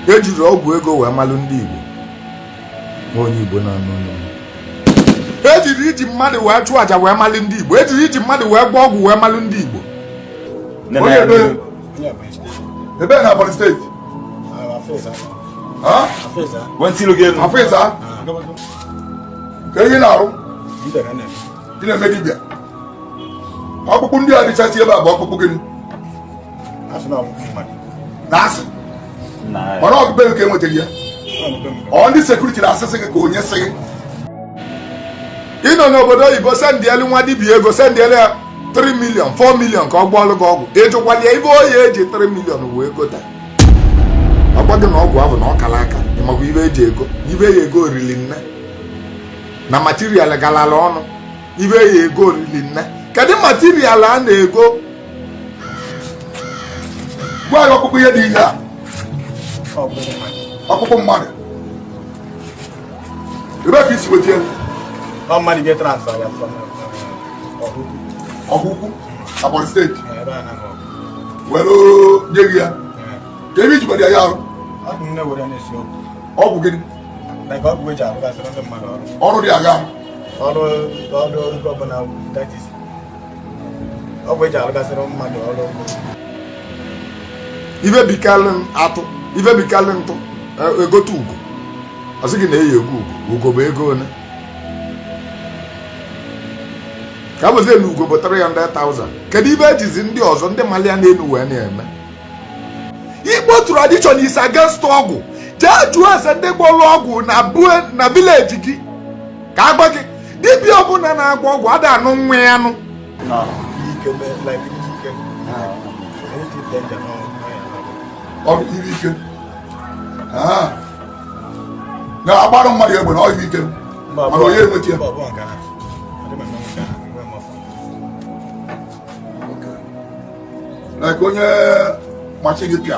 e jiri ọgwụ ego wee malụ ndị Igbo ma onye Igbo na-anụ onye Igbo. e jiri iji mmadụ wee chụọ àjà wee malụ ndị Igbo e jiri iji mmadụ wee gwọọ ọgwụ wee malụ ndị Igbo Onye ebe? Ebe na Ebonyi steeti? Ha? Afọ ịsa? Kee ihe ị na-arụ? Ị na-eme dibịa? Ọkpụkpụ ndị a dịchasị ebe a bụ ọkpụkpụ gịnị? mana ọ bụbeghị ka e nwetara ya ọ ndị sekuriti na-asịsị gị ka onye sị gị ị nọ n'obodo oyibo sendịelu nwa dibịa ego sendịelu ya 3 million 4 million ka ọ gbọọlụ gị ọgwụ ị jụkwala ya ife o yi eji 3 million wee gota ọ gwa gị na ọgwụ ahụ na ọ kara aka ị makwa ife e ji ego ife ya ego rili nne na material galala ọnụ ife ya ego rili nne kedu material a na-ego gwa ya ọkpụkpụ ihe dị ihe a ọkpụkpụ mmadụ ebee ka i si wete ọkpụkpụ Ebonyi steeti were nye gị ya kee ihe i ji ya arụ ọgwụ gịnị ọrụ dị aghaa ọrụ ọbụla that is ife bikalụ atụ ife bikalụ ntụ e, egote ugo ọ sị gị na e yi ego ugo ugo bụ ego one ka bụzi na ugo bụ 300,000 kedu ife e jizi ndị ọzọ ndị mali ya n'enu wee na-eme Igbo tradition is against ọgwụ jee jụọ ese ndị gbọrọ ọgwụ na vileji gị ka a gwa gị dibịa ọbụla na-agwọ ọgwụ ada anụ nwa ya anụ na-agbara mmadụ egbe na ọhịa ike mana onye enweta ya like onye machi gị pịa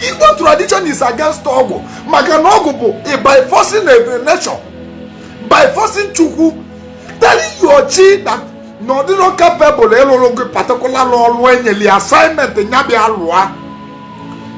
Igbo tradition is against ọgwụ maka na ọgwụ bụ by forcing a nature by forcing Chukwu telling your chi that na ọ dịrọ capable ịlụrụ gị particular ọrụ e nyeli assignment nya bịa lụa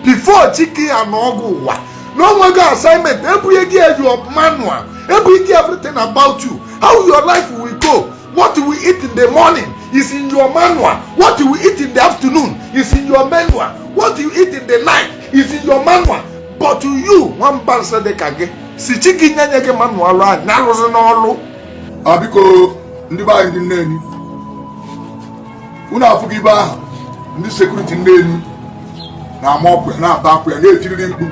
before chi kee ya na ọgwụ ụwa na o nwego assignment e bunye gị your manual e bunye gị everything about you how your life will go What you eat in the morning is in your manual. What you eat in the afternoon is in your manual. What you eat in the night is in your manual. But to you, one person dị ka gị sị chi gị nye nye gị manual a nyarozi n'ọlụ. A biko ndị be anyị ndị Nnewi. Unu afụghị ibe ahụ ndị sekuriti Nnewi na-ama ọkụ ya na-ata akwụ ya na-etiriri mkpu.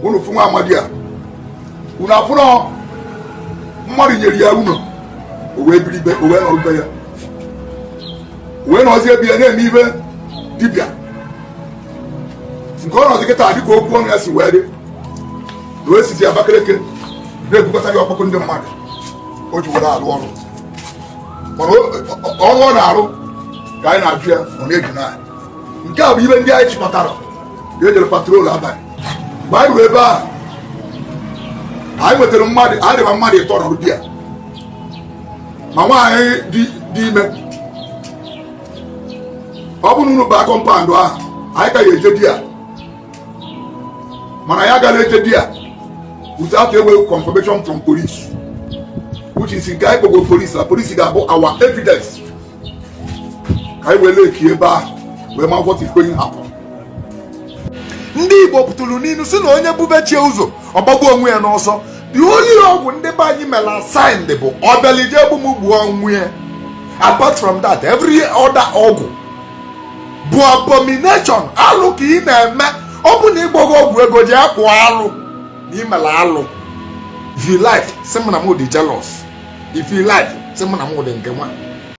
unu fụ nwa amadi a unu afụrọ mmadụ nyere ya ụnọ o wee biri ibe o wee nọrọ ibe ya o wee nọzie ebe ya na-eme ife dibịa nke ọ nọzi kịta dịka okwu ọnụ ya si wee dị na o sizi Abakaliki na-ebukọta gị ọkpụkpụ ndị mmadụ o ji were alụ ọrụ mana ọrụ ọ na-arụ ka anyị na-ajụ ya ọ na-eju anya nke a bụ ibe ndị anyị chịkọtara e jere patrol abalị mgbe anyị ruo ebe a anyị nwetara mmadụ anyị dịba mmadụ ịtọ nọrụ di ya ma nwaanyị dị ime ọ bụrụ na unu baa kọmpandụ ahụ anyị ka ya-eje di ya mana anyị agarọ eje di ya without a confirmation from police which is nke anyị kpọgo police na police ga-abụ our evidence ka anyị were eki ebe ahụ wee ma what is going to happen ndị Igbo pụtụrụ n'inu si na onye bube chi ya ụzọ ọ gbagbuo onwe ya n'ọsọ the only ọgwụ ndị be anyị mere assigned bụ ọbịalụ ije egbu m gbuo onwe ya apart from that every other ọgwụ bụ abomination alụ ka ị na-eme ọ bụ na ị gwọọ ọgwụ ego ji akpụ alụ na i mere alụ if you like sị m na m dị jealous if you like sị m na m dị nke nwa